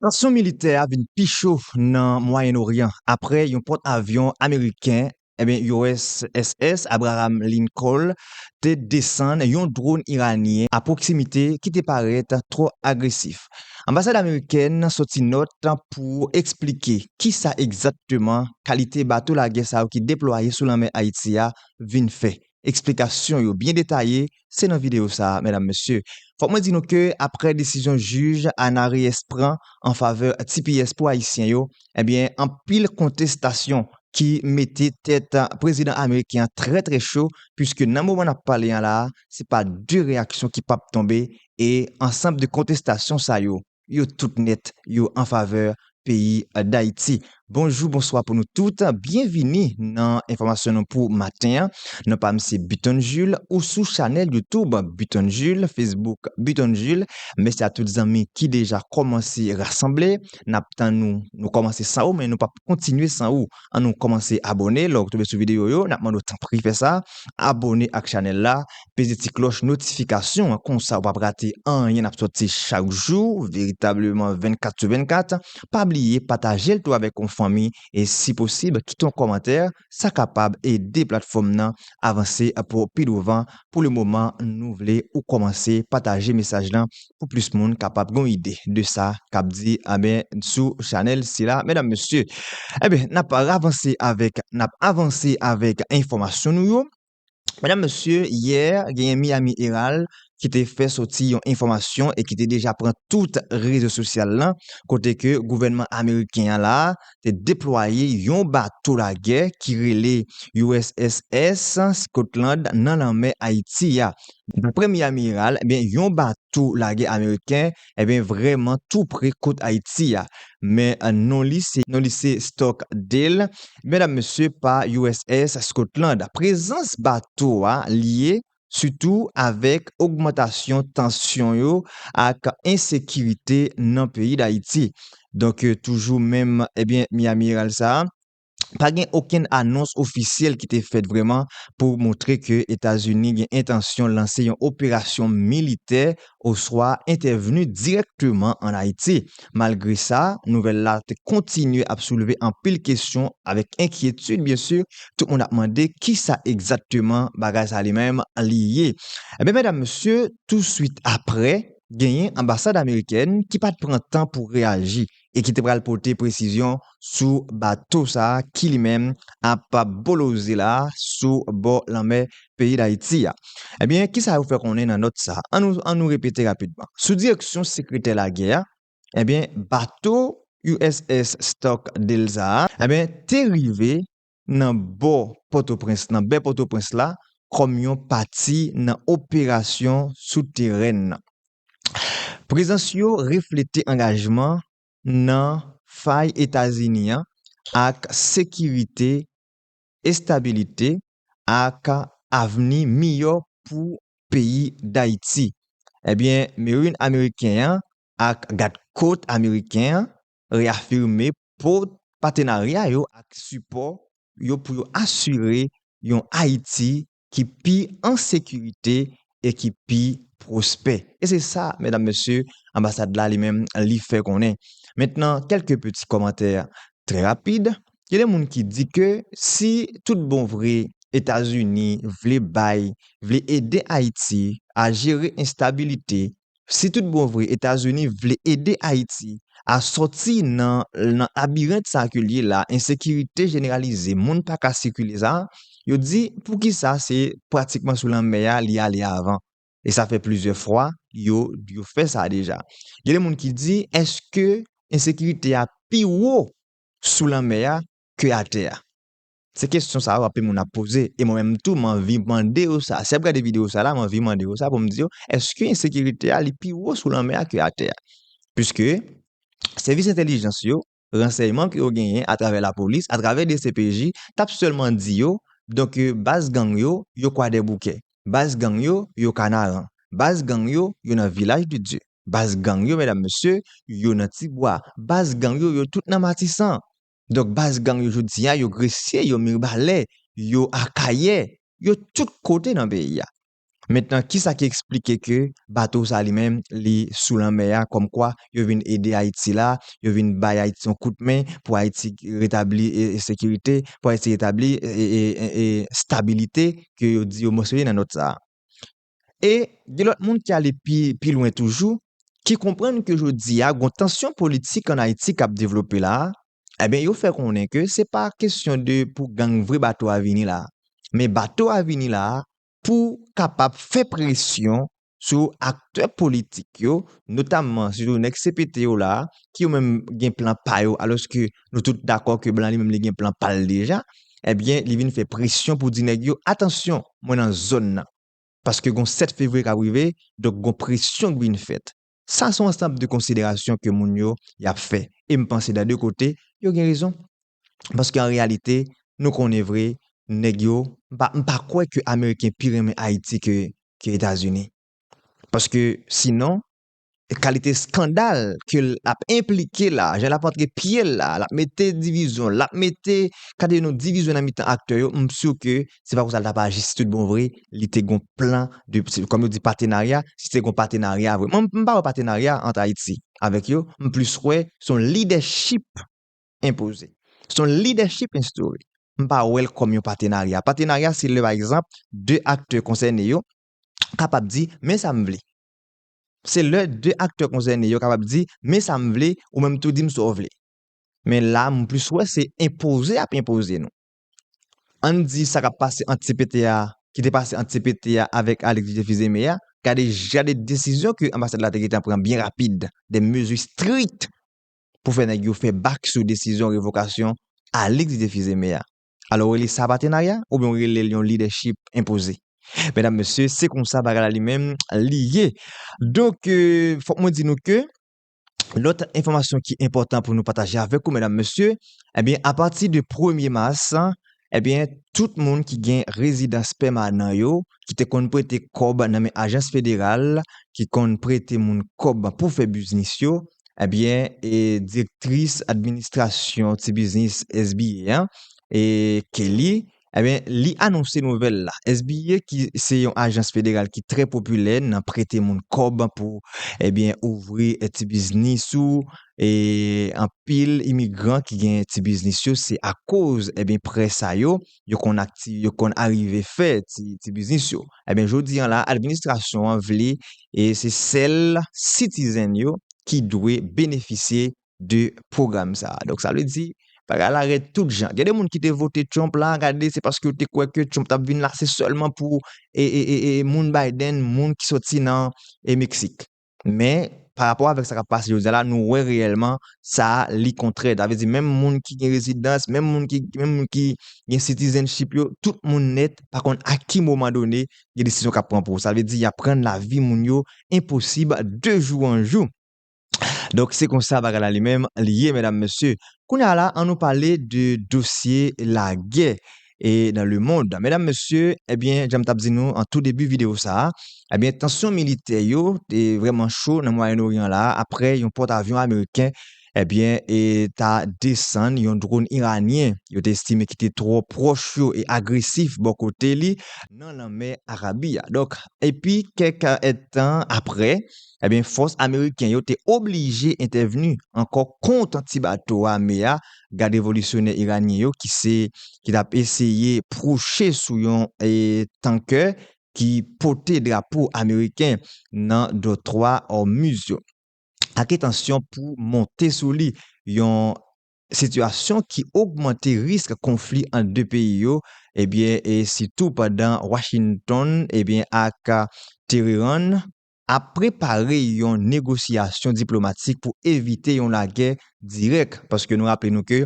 Tansyon militè a vin pi cho nan Mwayen Oryan apre yon pòt avyon ameriken USS Abraham Lincoln te desann yon dron iranyen a pwoksimite ki te parèt twò agresif. Anbasad amerikèn soti nòt pou eksplike kisa egzakteman kalite bato lagè sa yo ki deplwaye sou lanmè Ayiti a vin fè. Eksplikasyon yo byen detaye, se nan videyo sa a medam mesye. Fòk mwen di nou ke aprè desizyon jij Ana Reyes pran an favè tps pou ayisyen yo, ebyen anpil kontestasyon ki mete tèt prezidan ameriken an trè trè cho puiske nan moman nap pale an la a se pa de reyaksyon ki pap tonbe e ansanb de kontestasyon sa yo yo tout nèt yo an favè peyi Dayiti. Bonjou bonswa pou nou tout, byenvini nan enfòmasyon nou pou maten an. Non pa m se Buton Jules, ou sou chanèl YouTube Buton Jules, Facebook Buton Jules. Mèsi a tout zanmi ki deja kòmanse rasanble, n ap tann ou, nou kòmanse san ou men nou p ap kontinye san ou. an nou kòmanse abòne lè w tonbe sou videyo yo nap mande w tanpri fè sa abòne ak chanèl la peze ti klòch notifikasyon an konsa ou pap rate anyen nap sòti chak jou veritableman 24 sou 24 pa bliye pataje l tou avèk yon fanmi e si posib kite yon kòmantè sa kapab ede platfòm nan avanse pou pi douvan pou le moman nou vle ou kòmanse pataje mesaj lan. pou plis moun kapab gon ide de sa kap di anben sou chanèl sila medam mesye anben nap ravanse avèk nap avanse avèk enfòmasyon nou yo medam mesye yè genyen Miami Herald ki te fè soti yon enfòmasyon e ki te deja pran tout rezo sosyal lan kote ke gouvènman ameriken an la te deplwaye yon bato lagè ki rele USS Scotland nan lanmè Ayiti a. Daprè Miami Herald, yon bato lagè ameriken vrèman tou pre kot Ayiti a, men non li se Stockdale, medam mesye pa USS Scotland. Prezans bato a lye sitou avèk ogmantasyon tansyon yo ak ensekirite nan peyi Dayiti. Donk toujou menm ebyen Miami Herald sa a, pa gen okenn anons ofisyèl ki te fèt vrèman pou montre ke Etazini gen entansyon lanse yon operasyon militè oswa entèvni dirèkteman ann Ayiti. Malgre sa, nouvèl la te kontinye ap soulve anpil kesyon avèk enkyetid byensi, tout moun ap mande kisa egzakteman bagay sa li menm li ye. Enben medam mesye, tousuit aprè, genyen anbasad amerikèn ki pa t pran tan pou reyaji. e ki te pral pote presizyon sou bato sa ki li menm ap boloze la sou bò lanmè peyi Dayiti a. Ebyen, ki sa yo fè konnen nan nòt sa? An nou an nou repete rapidman. Sou direksyon sekretè lagè a, ebyen bato uss Stock Delza a, ebyen te rive nan bò Pòtoprens nan bè Pòtoprens la kòm yon pati nan operasyon sou teren nan. Prezans yo reflete angajman nan fay Etazini an ak sekirite, estabilite ak avni miyò pou peyi Dayiti. Ebyen, Marine ameriken an ak Gad Kot ameriken an reyafime pou patenarya yo ak sipò yo pou yo asire yon Ayiti ki pi an sekirite e ki pi pwospè. E se sa, medam, mesye, anbasad la li menm li fè konnen. Mentnan, kèlke peti kòmantè trè rapid. Gen de moun ki di ke si tout bon vre Etazini vle bay, vle ede Ayiti a jere enstabilite Si tout bon vre Etazini vle ede Ayiti a sòti nan nan labirent sa ke l ye la, ensekirite jeneralize, moun pa ka sikile sa, yo di poukisa se pratikman sou lanmè a li ale avan? E sa fè plizyè fwa yo yo fè sa deja. Gen de moun ki di èske ensekirite a pi wo sou lanmè a ke atè a? Se kesyon sa yo anpil moun ap poze e mwen menm tou m anvi mande yo sa. Si y ap gade videyo sa la, m anvi mande yo sa pou m di yo, èske ensekirite a li pi wo sou lanmè a ke atè a? Piske sèvis entèlijans yo, ransèyman ke yo genyen atravè lapolis, atravè dcpj, t ap sèlman di yo, donk baz gang yo, yo Kwadèboukè, baz gang yo, yo Kanaran, baz gang yo, yo nan Vilaj de Dye, baz gang yo, medam mesye, yo nan Tibwa, baz gang yo, yo tout nan Matisan. Donk baz gang yo jodi a, yo Gresye, yo Mirbalè, yo Akayè, yo tout kote nan peyi a. Mentnan kisa ki eksplike ke bato sa li menm li sou lanmè a kòm kwa yo vin ede Ayiti la, yo vin bay Ayiti yon kout men pou Ayiti retabli sekirite, pou Ayiti retabli stabilite ke yo di yo mansyone nan nòt sa a. E gen lòt moun ki ale pi pi lwen toujou, ki konprann ke jodi a gon tansyon politik an Ayiti k ap devlope la a, enben yo fè konnen ke se pa kesyon de pou gang vre bato a vini la a, men bato a vini la a pou kapab fè presyon sou aktè politik yo, notamman sitou nèg CPT yo la a, ki yo menm gen plan pa yo, alòske nou tout dakò ke blan li menm li gen plan pa l deja, enben li vin fè presyon pou di nèg yo, atansyon, mwen nan zòn nan. Paske gon 7 fevriye kap rive, donk gon presyon k vin fèt. Sa son ansanb de konsiderasyon ke moun yo yap fè. E m panse dan 2 kote, yo gen rezon. Paske an reyalite, nou konnen vre, nèg yo, m pa m pa kwè ke ameriken pi renmen Ayiti ke ke Etazini. Paske sinon, kalite skandal ke l ap enplike la, jan l ap antre pye l la, l ap mete divizyon, l ap mete kade yon divizyon nan mitan aktè yo, m si ke se pa konsa l t ap aji si tout bon vre, li te gon plan de, kòm yo di patenarya, si se te gon patenarya vre. Mwen m pa wè patenarya ant Ayiti avèk yo, m plis wè se yon lidèchip enpoze, se yon lidèchip enstore, m pa wè l kòm yon patenarya. Patenarya se lè pa egzanp 2 aktè konsène yo kapab di men sa m vle. Se lè 2 aktè konsène yo kapab di, men sa m vle, ou menm tou di m sa w vle. Men la, m plis wè se enpoze y ap enpoze nou. An n di sa k ap pase ant cpt a, ki te pase ant cpt a avèk Alix J. Fils-Aimé a, gade jan de desizyon ke anbasad la te gentan pran byen rapid, de mezi strik pou fè nèg yo fè bak sou desizyon revokasyon Alix J. Fils-Aimé a. Alò ou rele sa patenarya oubyen ou rele l yon lidèchip enpoze? Medam, mesye, se konsa bagay la li menm li ye. Donk, fòk mwen di nou ke lòt enfòmasyon ki enpòtan pou nou pataje avèk ou, medam, mesye, ebyen, apati de premye mas, ebyen, tout moun ki gen rezidans pèmanan yo, ki te konn prete kòb nan men ajans federal ki konn prete moun kòb pou fè biznis yo, Ebyen e direktris administrasyon ti biznis SBA an e Kelly ebyen li anonse nouvèl la. SBA ki se yon ajans federal ki trè popilè nan prete moun kòb pou ebyen ouvri ti biznis ou e anpil imigran ki gen ti biznis yo se akoz ebyen prè sa yo. yo konn ak ti yo konn arive fè ti ti biznis yo enben jodi an la administrasyon an vle e se sèl sitizen yo ki dwe benefisye de pwogram sa donk sa vle di bagay la rèd tout jan gen de moun ki te vote Trump la gade se paske yo te kwè ke Trump tap vin la se sèlman pou e e e moun Biden moun ki soti nan e Meksik. Men, pa rapò avèk sa k ap pase jodi a la, nou wè reyèlman sa a li kontrè. Sa vle di menm moun ki gen rezidans, menm moun ki menm moun ki gen citizenship yo, tout moun nèt pa konn a ki moman done gen desizyon k ap pran pou sa vle di y ap rann lavi moun yo enposib de jou an jou. Donk, se kon sa bagay la li menm li ye medam mesye. Kounye a la, an nou pale de dosye lagè. e nan le mond. Medam mesye, ebyen janm tap di nou an tou debi video sa, ebyen tansyon militè yo te vreman cho nan Mwayen Oryan la apre yon pòt avyon ameriken ebyen e ta desann yon dronn iranyen yo te estime ki te twò pwòch yo e agresif bò kote li nan lanmè Arabi a. Donk epi kèk èdtan apre ebyen fòs ameriken yo te oblije entèvni ankò kont ti bato ame a gad revolisyonè iranyen yo ki se ki tap eseye pwoche sou yon tankè ki pote drapo ameriken nan dòtwa Ormuz yo ak entansyon pou monte sou li, yon sitiyasyon ki ogmante risk konfli ant 2 peyi yo ebyen sitou pandan Washington ebyen ak Terean ap prepare yon negosyasyon diplomatik pou evite yon lagè dirèk, paske nou raple nou ke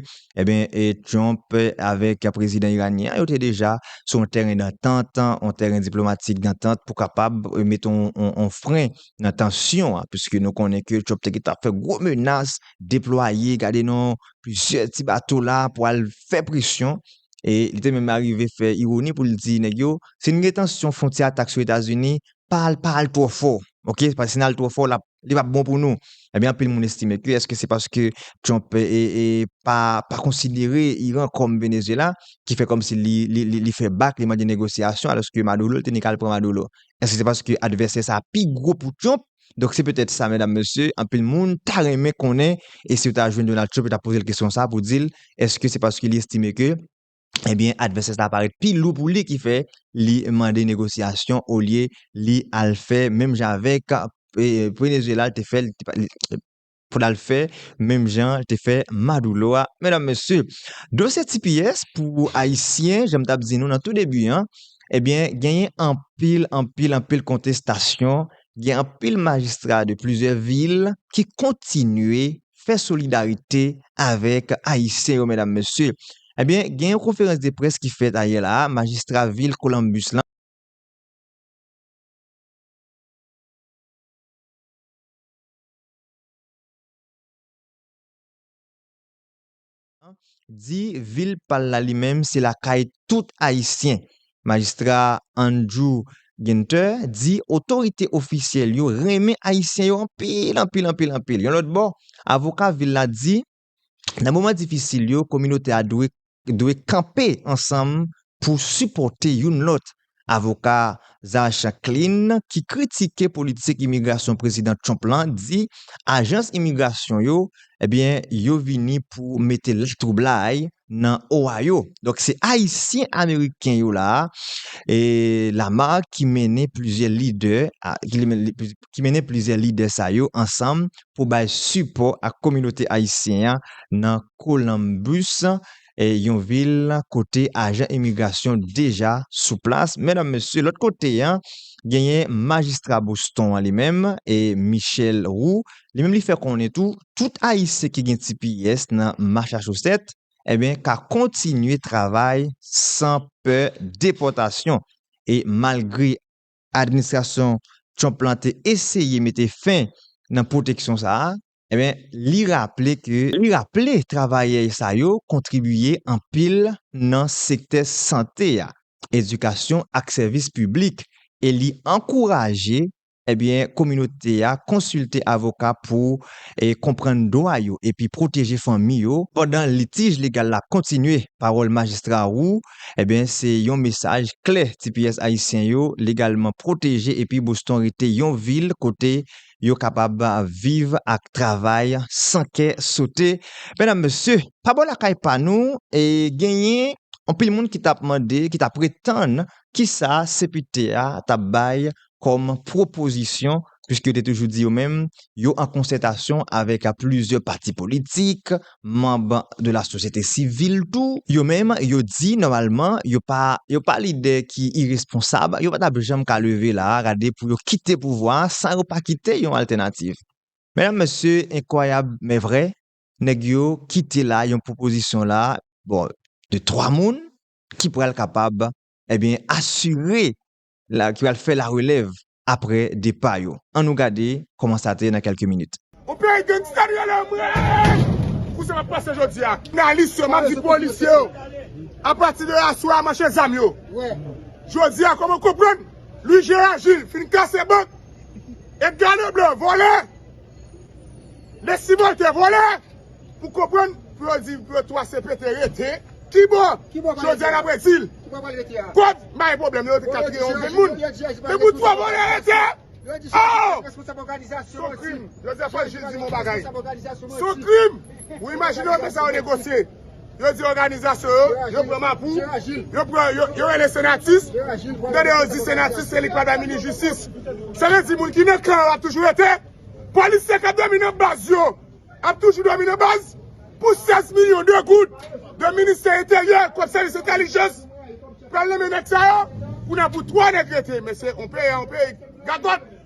Trump avèk prezidan iranyen an yo te deja sou yon tèren dantant, yon tèren diplomatik dantant pou kapab mete yon fren nan tansyon an, piske nou konnen ke Trump te gentan fè gwo menas deplwaye gade non plizyè ti bato la pou al fè presyon, e li te menm arive fè ironi pou l di nèg yo, si n gen tansyon fwontyè a t ak sou Etazini, pa al pa al twò fò ok paske si nal twò fò lap li pap bon pou nou ebyen anpil moun estime ke eske se paske Trump e pa pa konsidere Iran kòm Venezuela ki fè kòm si li li fè bak li mande negosyasyon alòske Maduro li te ni kal pran Maduro eske se paske advèsè sa pi gwo pou Trump donk se petèt sa medam mesye anpil moun ta renmen konnen e si yo ta jwenn Donald Trump yo ta pozel kesyon sa pou dil eske se paske li estime ke ebyen advèsè sa parèt pi lou pou li ki fè li mande negosyasyon olye li al fè menm jan avèk Venezuela l te fè pou l al fè menm jan l te fè Maduro a. Medam mesye, dosye tps pou ayisyen, jan m t ap di nou nan tou debi an, ebyen genyen anpil, anpil, anpil kontestasyon, gen anpil majistra de plizyè vil ki kontinye fè solidarite avèk ayisyen yo medam mesye ebyen gen yon konferans de près ki fèt ayè la a majistra vil Columbus lan di vil pa l la li menm se lakay tout Ayisyen. Majistra Andrew Ginter di otorite ofisyèl yo renmen Ayisyen yo anpil anpil anpil anpil. Yon lòt bò, avoka vil la di nan moman difisil yo kominote a dwe dwe kanpe ansanm pou sipòte youn lòt Avoka Zash Klein, ki kritike politik imigrasyon Prezidan Trump lan, di ajans imigrasyon yo, ebyen, yo vini pou mete latwoublay nan Ohio. Donk, se Ayisyen Ameriken yo la a, e Lamar ki mennen plizyè lidè, ki mennen plizyè lidè sa yo ansanm pou bay sipò ak kominote ayisyen an nan Columbus, yon vil kote ajan imigrasyon deja sou plas. Medam, mesye, lòt kote an, genyen majistra Boston an li menm, e Michel Roux, li menm li fè konnen tou, tout Ayisyen ki gen tps nan Machachosèt, enben ka kontinye travay san pè depòtasyon. E malgre administrasyon Trump lan te eseye mete fen nan pwoteksyon sa a, Ebyen, li raple ke li raple travayè sa yo kontribiye anpil nan sektè sante a, edikasyon ak sèvis piblik e li ankouraje ebyen kominote a konsilte avoka pou konprann dwa yo epi pwoteje fanmi yo pandan litij legal la kontinye, pawòl Majistra Roux ebyen se yon mesaj klè tps ayisyen yo legalman pwoteje epi Boston rete yon vil kote yo kapab viv ak travay san kè sote. Medam, mesye, pa bò lakay pa nou, genyen anpil moun ki t ap mande, ki t ap pretann ki sa CPT a t ap bay kòm pwopozisyon, piske yo te toujou di yo menm yo an konsètasyon avèk plizyè pati politik, manb de la sosyete sivil tou, yo menm yo di nòmalman yo pa yo pa lidè ki iresponsab, yo pa t ap janm ka leve la a gade pou yo kite pouvwa a san yo pa kite yon altènativ. Medam mesye, enkwayab men vrè, nèg yo kite la yon pwopozisyon la a, bon, de twa moun ki pral kapab, ebyen, asire ki pral fè la relèv apre depa yo. An nou gade kòman sa te ye nan kèlke minit. Yon peyi gangsta nou ye la mwen eey pou sa kap pase jodi a. Jounalis yo map di polisye yo apati de aswè a manche zam yo jodi a kòman konprann Louis Gérard Gilles fin kase bank Edgar Leblanc vòlè. Lè simon te vole pou konprann pou yo di yo 3 CP te rete kibò jodi nap ret dil kòd bay pwoblèm yo te kapire yon grenn moun men pou 3 vole rete oh son krim jodi fòk jil di m yon bagay son krim ou imajine yo te sa yo negosye. Yo di òganizasyon yo, yo pran mapou, yo pran, yo rele senatus, ou tande yo di senatus se li k pa bay minis jistis. Sa vle di moun ki nan kan an ap toujou rete, polisye k ap dòmi nan baz yo ap toujou dòmi nan baz pou 16 milyon de goud de ministè enteryè kòm sèvis entèlijans pral nonmen nèg sa yo pou nan pou 3 nèg rete men se on peyi an on peyi gagòt.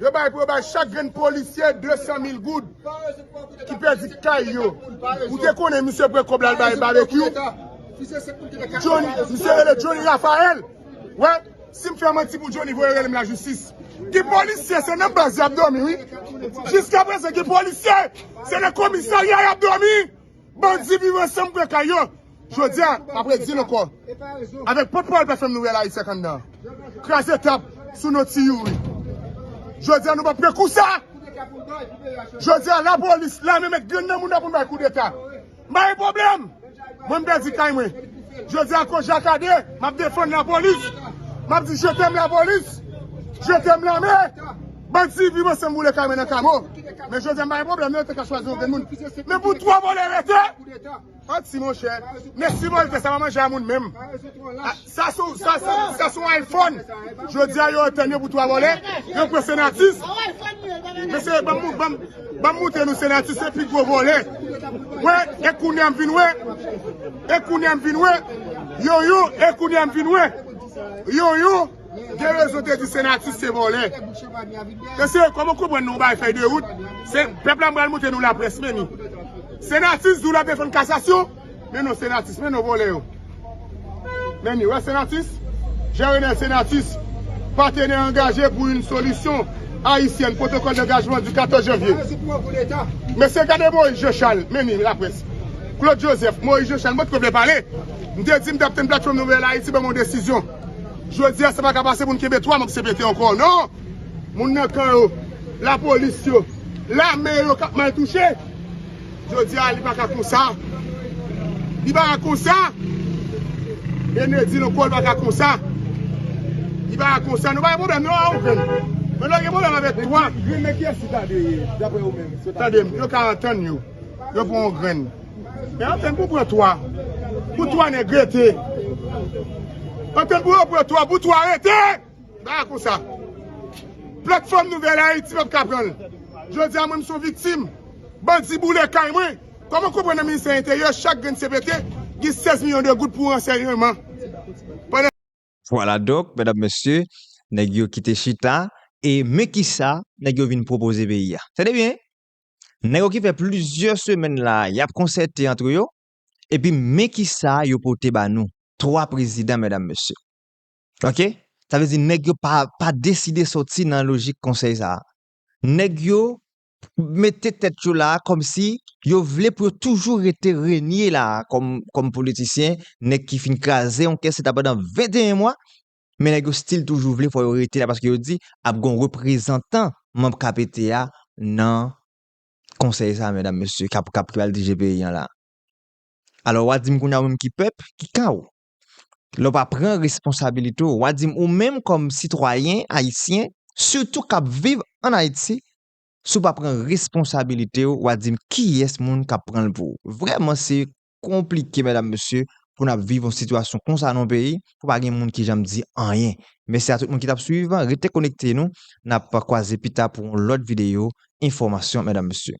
Yo bay pou yo bay chak grenn polisye 200 mil goud ki pèdi kay yo. Ou te konnen misye pran kòb la al bay Babekyou? Johnny, misye rele Johnny Raphael. Wè, si m fè manti pou Johnny voye rele m lajistis. Gen polisye se nan baz y ap dòmi wi. Jiskaprezan gen polisye se nan komisarya y ap dòmi. Bandi viv ansanm pran kay yo. Jodi a, m ap redi l ankò, avèk pòtpawòl pè fèm nouvèl Ayiti ak anndan an, kraze tap sou non Ti Youri. Jodi a nou p ap pran kou sa! Jodi a lapolis, lame mèt grenn nan mouda pou n bay koudeta. M pa gen pwoblèm! Mwen m pèdi kay mwen. Jodi a kou Jakade, m ap defann lapolis. M ap di je tèm lapolis, je tèm lame. Bann ti pi mansem boule kay mwen nan kamo men jodi a m pa gen pwoblèm nan yo te ka chwazi yon grenn moun men pou 3 vòlè rete an ti monchè mesi volte sa pa manje a moun menm sa sou sa sou iphone jodi a yo antann yo pou 3 vòlè yo pran senatus mesye banm mou banm banm moute nou senatus se pi gwo vòlè wè e kounye a m vin wè e kounye a m vin wè yoyou e kounye a m vin wè yoyou. Gen rezon te di senatus se vòlè. Mesye kòman konprann nou bay fèy de wout, se pèp la pral monte nou laprès meni. Senatus di w lap defann kasasyon, men non senatus men non vòlè yo. Meni wè senatus, Jerenel Senatus, patenè angaje pou yn solisyon ayisyèn pwotokòl dangajman di 14 janvye. Mesye gade Moyiz Jechal, meni laprès. Klod Jozèf, Moyiz Jechal, mwen t ko vle pale, m te di m tap tann platfòm nouvèl ayiti ban m yon desizyon. Jodi a se pa ka pase pou n kenbe 3 manb cpt ankò non! Moun nan kan yo, lapolis yo, lame yo k ap mal touche. Jodi a li pa ka konsa. Li pa ka konsa! René di l ankò li pa ka konsa. Li pa ka konsa non. Pa gen pwoblèm non a okenn. Men lè w gen pwoblèm avèk 3. Grenn nan kiyès li ta dwe ye daprè ou menm? Tande m, yo ka antann yo. Yo pran yon grenn. Men antenn pou pran 3 pou 3 nèg rete Antenn pou yo pran 3 pou 3 rete Ba a konsa Platfòm Nouvèl Ayiti p ap ka pran l Jodi a mwen m s on viktim Bandi boule kay mwen Kòman w konprann nan Ministè Enteryè chak grenn cpt gen 16 milyon de goud pou ransèyman pandan Vwala donk medam mesye nèg yo kite chita e men kisa nèg yo vin pwopoze peyi a Tande byen! Nèg yo ki fè plizyè semèn la a, y ap konsète antre yo, epi men ki sa yo pote ba nou. Twa prezidan, medam, mesye. Ok? Sa vle di nèg yo pa pa deside soti nan lojik konsèy sa a. Nèg yo mete tèt yo la a kòmsi yo vle pou yo toujou rete renye la a kòm kòm politisyen, nèg ki fin kraze yon kès leta pandan 21 mwa, Men nèg yo stil toujou vle fò yo rete la paske yo di ap gon reprezantan manb KPT a nan konsèy sa medam mesye kap kap pral dirije peyi an la. Alò wa dim kounya ou menm ki pèp ki kan ou? Lè w pa pran responsabilite w, wa dim ou menm kòm sitwayen ayisyen sitou kap viv an Ayiti si w pa pran responsabilite w wa dim kiyès moun kap pran l pou ou? Vrèman se konplike medam mesye pou nap viv yon sitiyasyon konsa nan yon peyi pou pa gen moun ki janm di anyen mèsi a tout moun ki tap swiv rete konekte nou nap kwaze pita pou yon lòt videyo enfòmasyon medam mesye.